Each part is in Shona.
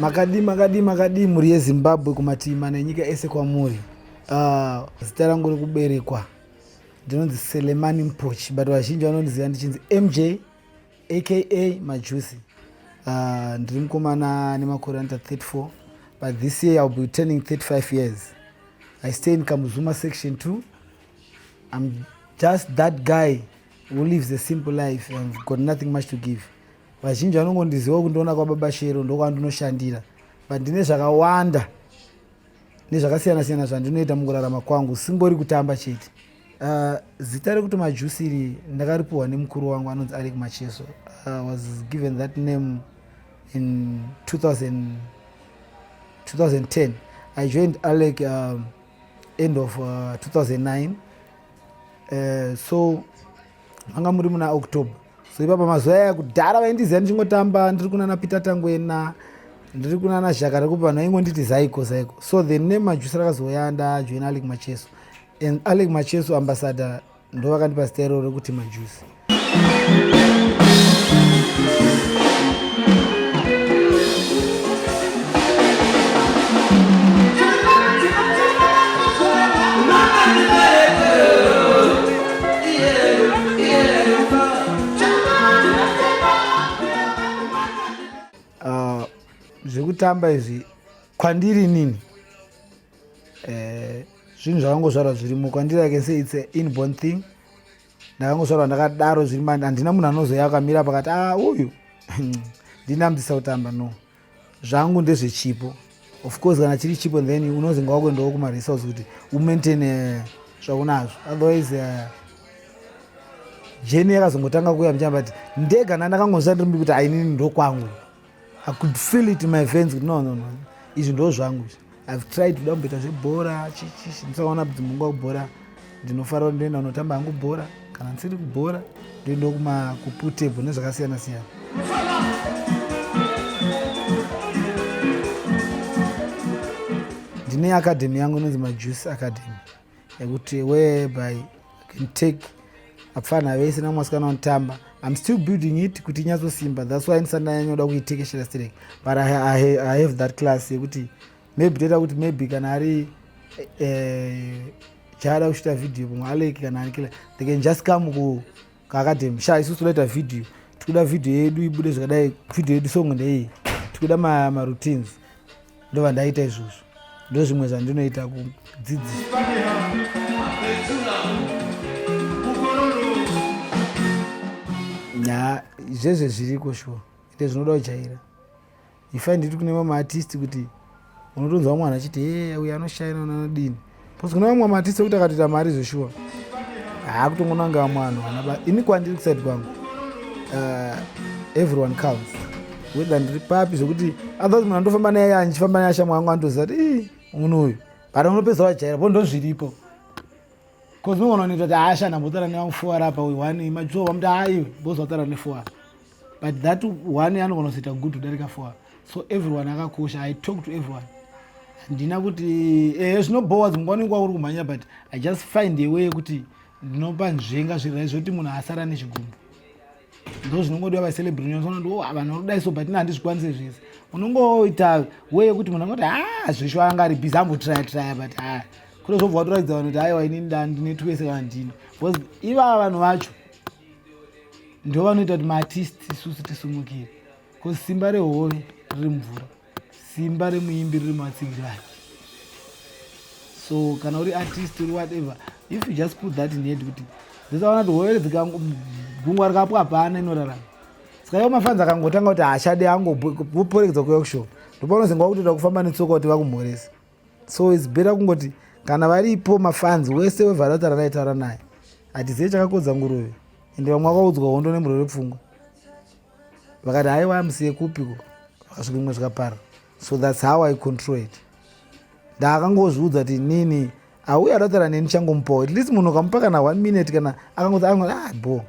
makadii makadii makadii mhuri yezimbabwe kumativi mana enyika ese kwamuri ah, zita uh, rangu rekuberekwa ndinonzi selemani mpochi but vazhinji vanondiziva ndichinzi mj aka majusi uh, ah, ndiri mukomana nemakore anoita 34 but this year iwill be turning 35 years i stay in kamuzuma section 2 im just that guy who lives a simple life and got nothing much to give vazhinji vanongondiziva kundiona kwababa shero ndokwandinoshandira but ndine zvakawanda nezvakasiyana siyana zvandinoita mukurarama kwangu singori kutamba chete uh, zita rekuti majusi iri ndakaripiwa nemukuru wangu anonzi arek macheso i uh, was given that name in 2000, 2010 i joined alec um, end of uh, 2009 uh, so manga muri muna october so ipapa mazuva aya kudhara vaindiziva ndichingotamba ndiri kunana peter tangwena ndiri kunana zhaka rekupi vanhu vaingonditi zaiko zaiko so the name majusi rakazouya ndajoina alec macheso and alec macheso ambassador ndo vakandipa zita iroro rekuti majusi Ah, zvekutamba izvi kwandiri nini eh, zvinhu zvakangozvarwa zvirimo kwandiri i can say its a inborn thing ndakangozvarwa ndakadaro zviri mani handina munhu anozoya akamira pakati a ah, uyu ndinambisa kutamba no zvangu ndezvechipo of course kana chiri chipo then unozinga wakuendawo kumaresource kuti umaintain eh, zvaunazvo otherwise eh, jeni yakazongotanga kuuya mchamba kuti ndega na ndakangozva ndiri kuti ainini ndokwangu i could feel it in my vens kuti no no no izvi ndo zvangu izvi I've tried kuda kumboita zvebhora chichichi ndisaona kuti munguva yekubhora ndinofara kuti ndoenda kunotamba hangu bhora kana ndisiri kubhora ndoenda kuma kuputebho nezvakasiyana siyana ndine akadhemi yangu inonzi majuice academy yekuti whereby i can take apfana vese namwasikana wanotamba im still building it kuti inyatsosimba thats why ndisati ndanyanyoda kuitekeshera sterek but I, I, i have that class yekuti maybe toita kuti maybe kana ari eh, chaada kuchita video pamwe aleki kana anikila they can just come ku kakati msha isusu todaita vhidhiyo tikuda vhidhiyo yedu ibude zvakadai vhidhiyo yedu song ndeiyi tikuda maroutines ma ndova ndaita izvozvo ndo zvimwe zvandinoita kudzidzisa nya zvezve zviriko shuwa ende zvinoda kujaira ifa nditi kune vamwe artist kuti unotonzwa mwana achiti e uyo anoshaina unanodini bcause kune vamwe maartist ekuti akatoita mari zveshuwa haakutongonanga vamwe vanhu vanaba ini kwandiri kuside kwangu uh, everyone comes whether ndiri papi zvekuti otherwise munhu andofamba naye andichifamba naye ashamwa yangu andoziva kuti ii munhu uyu but unopedza wajaira po ndozviripo bcause unogona unoita kuti haashana mbotara nevamufuara apa uyu one majuwa vamuti haiwe bozvatara nefuara but that one anogona kuzoita good kudarika four so everyone akakosha i talk to everyone handina kuti ehe eh, zvinobhowa dzimwe nguva unenge wauri kumhanya but i just find a way yekuti ndinopa nzvenga zvirai zvekuti munhu asara nezvigumbu ndo zvinongodiwa vacelebrationsonati o oh, ah, vanhu vanodai so but ina handizvikwanise zvese unongoita way yekuti munhu angoti ha ah, zvesho anga ari busy ambotraya traya but ha ah, kune zvobva watoratidza vanhu kuti aiwa inini ndandine twese kana ndini because ivava vanhu vacho ndo vanoita kuti maartist isusu tisimukire bcause simba rehove riri mvura simba remuimbi riri muvatsigiri vake so kana uri artist uri whatever if you just put that in head kuti dzisaona kuti hove gungwa rikapo hapana inorarama saka iwo mafanzi akangotanga kuti hachade angoporegedza kuyokushop ndopaunozengwa kutoda kufamba netsoka kuti vakumhoresa so its better kungoti kana varipo mafanzi wese wevharata ranaitaura naye hatizive chakakodza nguruve ende vamwe vakaudzwa hondo nemurwere pfungwa vakati haiwa musiye kupiko vakasvika imwe zvikapara so thats how i control it ndaakangozviudza kuti nini auye aratara neni changomupawo at least munhu ukamupa kana one minute kana akangoti anoti ah bo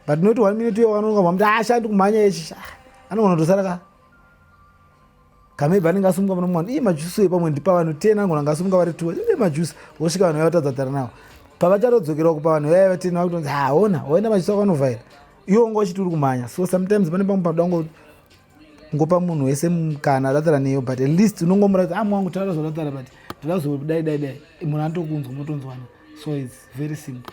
but not one minute uyo anonga mamuti ashandi ah, kumhanya echi ah, anogona kutosara ka kana ibva anenge asumuka muno mwana ii majusi uye pamwe ndipa vanhu ten angona anga asumuka vari two ii majusi vosvika vanhu vaya vatadza tara nawo pavachatodzokerawo kupa vanhu vaya vaten vakutonzi haona waenda majusi ako anovhaira iwo unga uchiti uri kumhanya so sometimes pane pamwe panoda ngo ngopa munhu wese mukana adatara neyo but at least unongomuratidza amu ah, wangu tara zvadatara but ndirazodaidai dai munhu anotokunzwa motonzwana so its very simple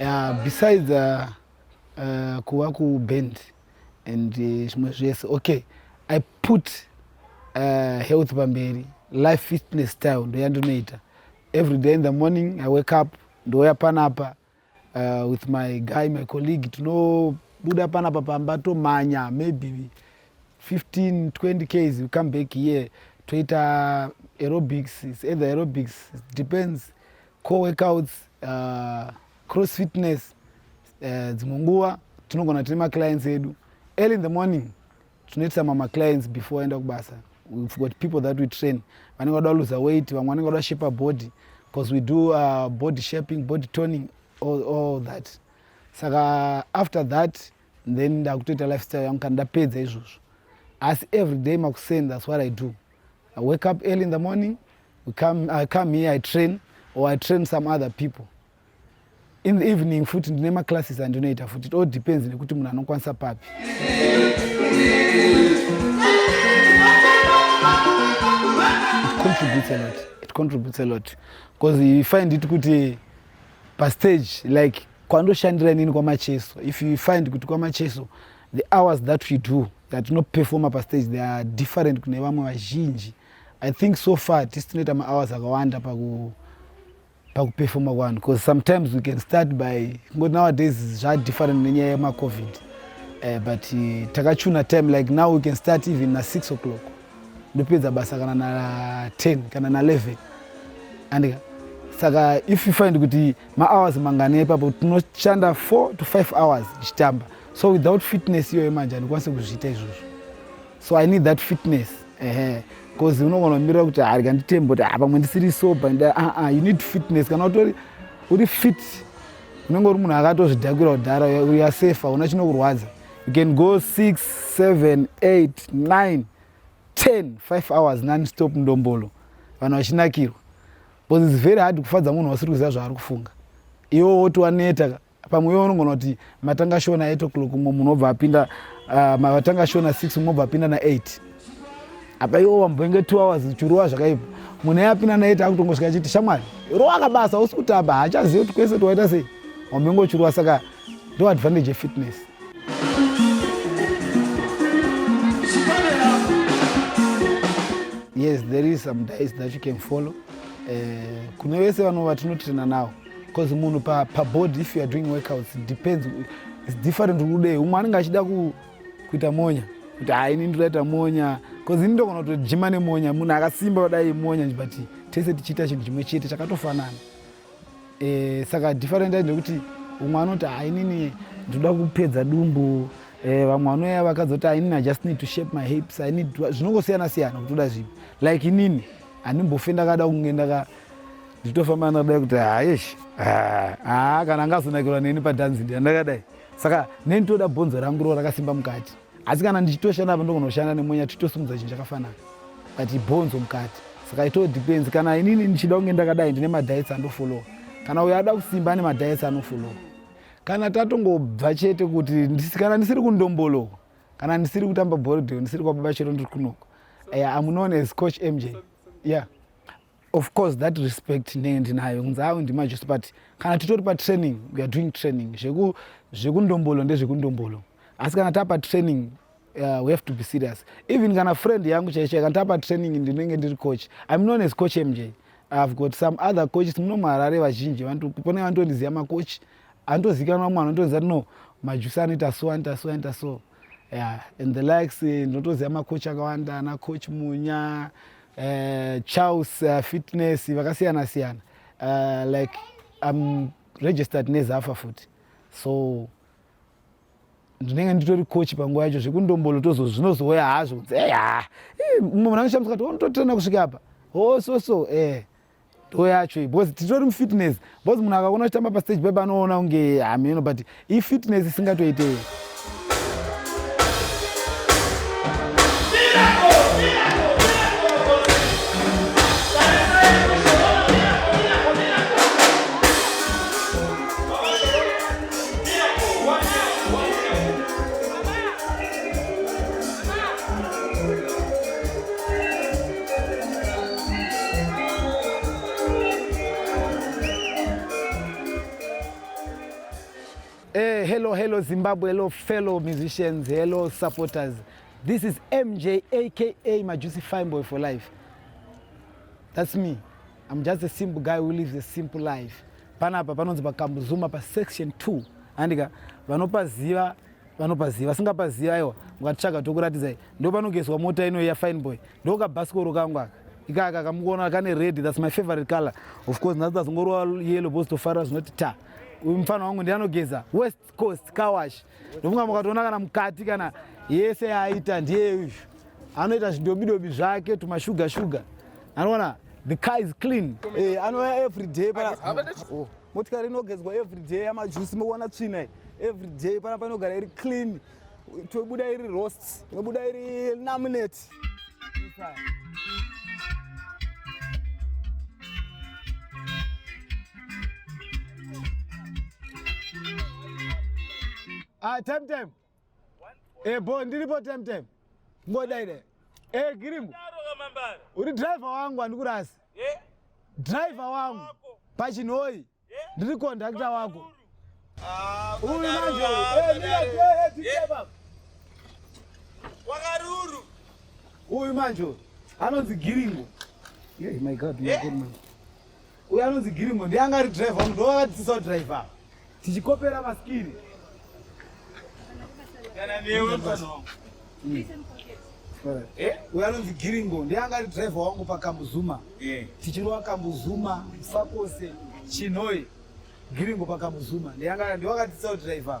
Yeah, besides uh, uh, kuva kuband and uh, zvimwe uh, zvese okay i put uh, health pamberi life fitness style ndoyandinoita every day in the morning i wake up ndouya panapa uh, with my guy my colleague tinobuda panapa pamba tomhanya maybe 15 20 ks we come back here toita aerobics it's either aerobics it depends Core workouts, uh, cross fitness, uh, dzimwe nguva tinogona tine maclients edu early in the morning tinoitisa mama clients before aenda kubasa we've got people that we train vanenge vada luza weight vamwe vanenge vada shape body because we do uh, body shaping body toning all, all that saka after that then ndakutoita lifestyle yangu kana ndapedza izvozvo asi every day makuseni thats what i do I wake up early in the morning, we come, I come here, I train, or I train some other people. In the evening futi ndine maclasses andinoita futi, it all depends nekuti munhu anokwanisa papi. Contributes a lot. It contributes a lot. Because you find it kuti pa stage like kwandoshandira inini kwamacheso if you find kuti kwamacheso the hours that we do dzatinoperfoma pastage they are different kune vamwe vazhinji i think so far tisi tinoita mahours akawanda paku pakuperfoma kwanhu bcause sometimes we can start by kungoti nowadays zvadifferent nenyaya yemacovid uh, but uh, takachuna time like now we can start even nasix o'clock ndopedza basa kana na 10 kana na 11 andika saka if you find kuti mahours mangani ipapo tinoshanda 4 to 5 hours tichitamba so without fitness iyoyo manje handikwanise kuzviita izvozvo so i need that fitness ehe bcause unogona kumirira kuti harika nditembe kuti ah, pamwe ndisiri sober aa ah, ah, you need fitness kana utori uri fit unenge uri munhu akatozvidhakwira kudhara uya safe hauna chinokurwadza you can go six seven eight nine ten five hours non stop ndombolo vanhu vachinakirwa bcause its very hard kufadza munhu wasiri kuziva zvaari kufunga iwo woti waneta ka pamwe iwe unogona kuti matanga shona 8 o'clock mumwe munhu obva apinda uh, matanga shona 6 mumwe obva apinda na8 apa iwo wambenge 2 hours chirowa zvakaipa munhu aye apinda na8 akutongosvika achiti shamwari rowa kabasa usi kutamba haachazivi kuti kwese tiwaita sei wambenge uchirowa saka ndo advantage yefitness yes there is some dice that you can follow uh, kune vese vanova tinotrena nawo because munhu pa, pa body if you are doing workouts it depends it's different kudei umwe anenge achida ku, kuita monya kuti ha ini ndiraita monya bcause ini ndogona kutojima nemonya munhu akasimba kudai monya but tese tichiita chinhu chimwe chete chakatofanana e, saka different ai ndekuti umwe anoti ha inini ndinoda kupedza dumbu e, vamwe vanoya vakazoti ha inini i just need to shape my hips i need zvinongosiyana siyana kutoda zvipi like inini handimbofenda kada kunge ndaka nditofamba ndakadai kuti hayesh ah, ah, kana angazonakirwa neni padhanzi ndiya ndakadai saka neni toda bhonzo rangu ro rakasimba mukati asi kana ndichitoshanda apa ndokunoshanda nemonya titosimudza chinhu chakafanana but bhonzo mukati saka ito depends kana inini ndichida kunge ndakadai ndine madiets andofollowa kana uyo ada kusimba ane madiets anofollowa kana tatongobva chete kuti kana ndisiri kundombolowa kana ndisiri kutamba borodeo ndisiri kwababa chero ndiri kunoko eh, amunoona as coach mj yeah of course that respect ndenge ndinayo kunzi awe ndimajusi but kana titori patraining weare doing training zvekundombolo zveku ndezvekundombolo asi kana tapa training uh, we have to be serious even kana friend yangu chaichai kana tapa training ndinenge ndiri coach im known as coach mj ihave got some other coaches muno muharare vazhinji pane vanotondiziva macoach anotozikanwa mwana anotonzi ati no majusi anoita so anoita so anoita so yeah. and the likes eh, ndinotoziva macoach akawanda ana coach munya uh, charles uh, fitness vakasiyana siyana uh, like im registered nezafa futi so ndinenge nditori coach panguva yacho zvekundombolo tozo zvinozouya hazvo kunzi eya umwe munhu anoshamisa kati unototirana kusvika apa ho oh, so so eh do yacho iyi because titori mufitness because munhu akaona uchitamba pastage paye panoona kunge hameno but ifitness isingatoitei Eh, hello, hello Zimbabwe, hello fellow musicians, hello supporters. This is MJ aka Majusi Fine Boy for life. That's me. I'm just a simple guy who lives a simple life. Panapa panonzi pakambuzuma pa section 2 andika vanopaziva vanopaziva vasingapazivi aiwa ukatitsvaga tokuratidzai ndo panogezwa mota inoiya fine boy ndokabhasikoro kangu aka ikaka kamukuona kane red thats my favorite color of course nhasi tazongorova yellow bos tofarira zvinoti ta uyu mufana wangu ndi anogeza west coast kawash ndofunga mukatoona kana mukati kana yese yaaita ndiye uyu anoita zvidobidobi zvake tumashuga shuga anoona the car is clean hey, eh, anouya every day pa oh. motikari inogezwa everyday yamajusi mokuona tsvina iyi everyday pana painogara iri clean tobuda iri rost tobuda iri namunet ah, time time Eh boy ndiripo time time. Ngoda ine. Eh Girimu. Uri driver wangu andikurasi. Eh? Driver wangu pachinoi. Eh? Ndiri conductor wako. Ah, Uyu manje. Eh ndira eh, eh driver. Wakaruru. Uyu manje. Anonzi Girimu. Yeah, my God, my eh? God, man. Uyo anonzi Girimo ndiye anga ari driver uno ndovakadzisisa kudriver tichikopera maskiri kana newe pano hmm. eh, uyo anonzi Giringo ndiye anga ari driver wangu pakambuzuma eh. tichirova kambuzuma sakose chinoi Giringo pakambuzuma ndiye anga ndiwakadzisisa kudriver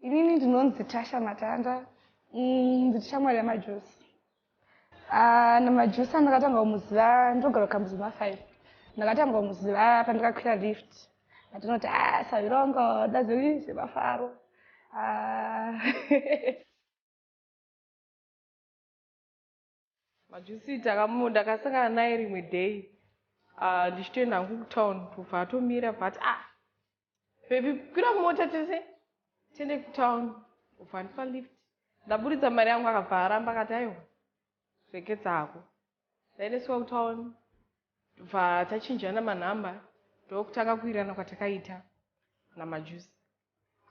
Inini ndinonzi Tasha Matanda mm, ndiri shamwari yamajusi ah, namajusi andakatanga kumuziva ndogara kukambuzi mafive ndakatanga kumuziva pandakakwira lift atinoti a ah, savirongo daziri zvemafaro ah. Majusi takamu ndakasangana naye rimwe day ah, ndichitoenda hangu kutown bva atomira bva ati ah baby kwira mota tese tiende kutown bva andipa lift ndaburitsa mari yangu akabva aramba akati aiwa reketsa hako ndaendeswa kutown bva tachinjana manhamba ndokutanga kuirana kwatakaita namajusi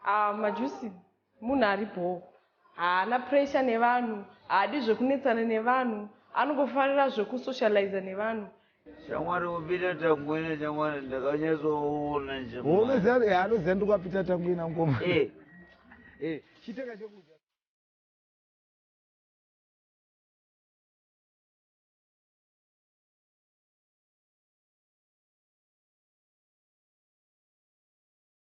Ah, majusi munhu ari bhoo, haana pressure nevanhu, haadi zvekunetsana nevanhu, anongofarira zvekusocializa nevanhu. Shamwari kuPeter Tangwena shamwari ndakanyatsoona nje. Unoziva eh anoziva ndikwa Peter Tangwena ngoma. Eh. Eh, chiteka chekudya.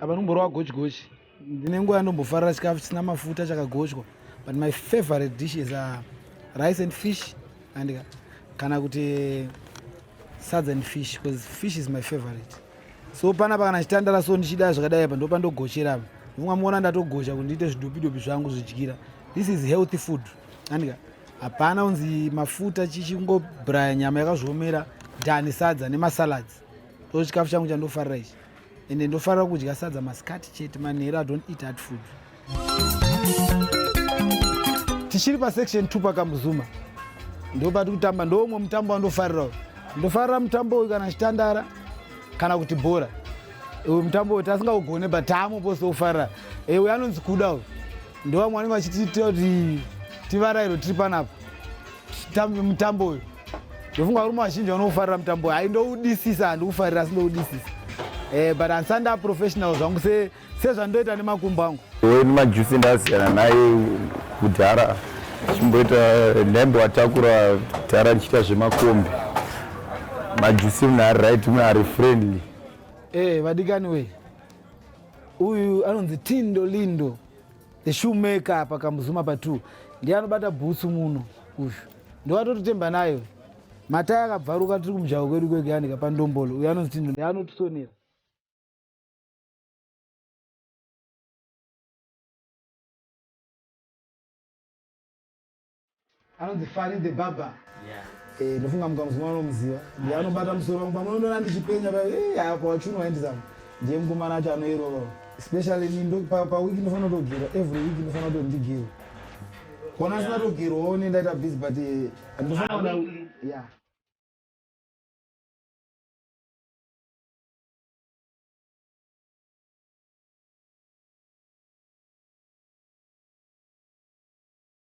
apa ndikumborova gochigochi ndine nguva yandombofarira chikafu chisina mafuta chakagochwa but my favorite dishes are rice and fish and kana kuti eh, sadza and fish because fish is my favorite so panapa kana chitandara so ndichida zvakadai apa ndopa ndogochera apa vunga muona ndatogocha kuti ndiite zvidopidopi zvangu zvidyira this is healthy food andika hapana unzi mafuta chichingobraya nyama yakazviomera dani sadza nemasalads ndo chikafu changu chandofarira ichi ende ndofarira kudya sadza masikati chete manhero i don't eat hard food tichiri pasection two pakamuzuma ndo pati kutamba ndoumwe mutambo wandofarira uyu ndofarira mutambo uyu kana chitandara kana kuti bhora uyu mutambo uyu tasingaugone but taamu pose ufarira e uyu anonzi kuda uyu ndovamwe vanenge vachitiita kuti tivarairo tiri panapa mutambo uyu ndofunga varume vazhinji vanoufarira mutambo uyu aindoudisisa handiufarira asi ndoudisisa eh, but handisanda professional zvangu sezvandoita nemakumbo angu weni majusi ndasiyana naye kudhara chimboita lembo atakura dhara ndichiita zvemakombi majusi mune ari right mune ari friendly eh, vadikani wee uyu anonzi tindo lindo The shoemaker apa kamuzuma pa 2 ndiye anobata bhutsu muno uyu ndowatototemba nayo matai akabvaruka tiri kumujaho kwedu kweganika pandombolo uyo anonzi tindo ndiye anotisonera Anonzi Fari the Barber. Yeah. Eh, ndofunga muka muzima anomuziva. Ndiye anobata musoro wangu pamwe unoona ndichipenya pa eh haa kwa wachunwa handizama. Ndiye mukomana acho anoirova. Especially ni ndo pa pa week ndofana kutogera every week ndofana kutondigera. Kona sina togera one ndaita busy but eh, ndofana Ah, kuona weekly. yeah.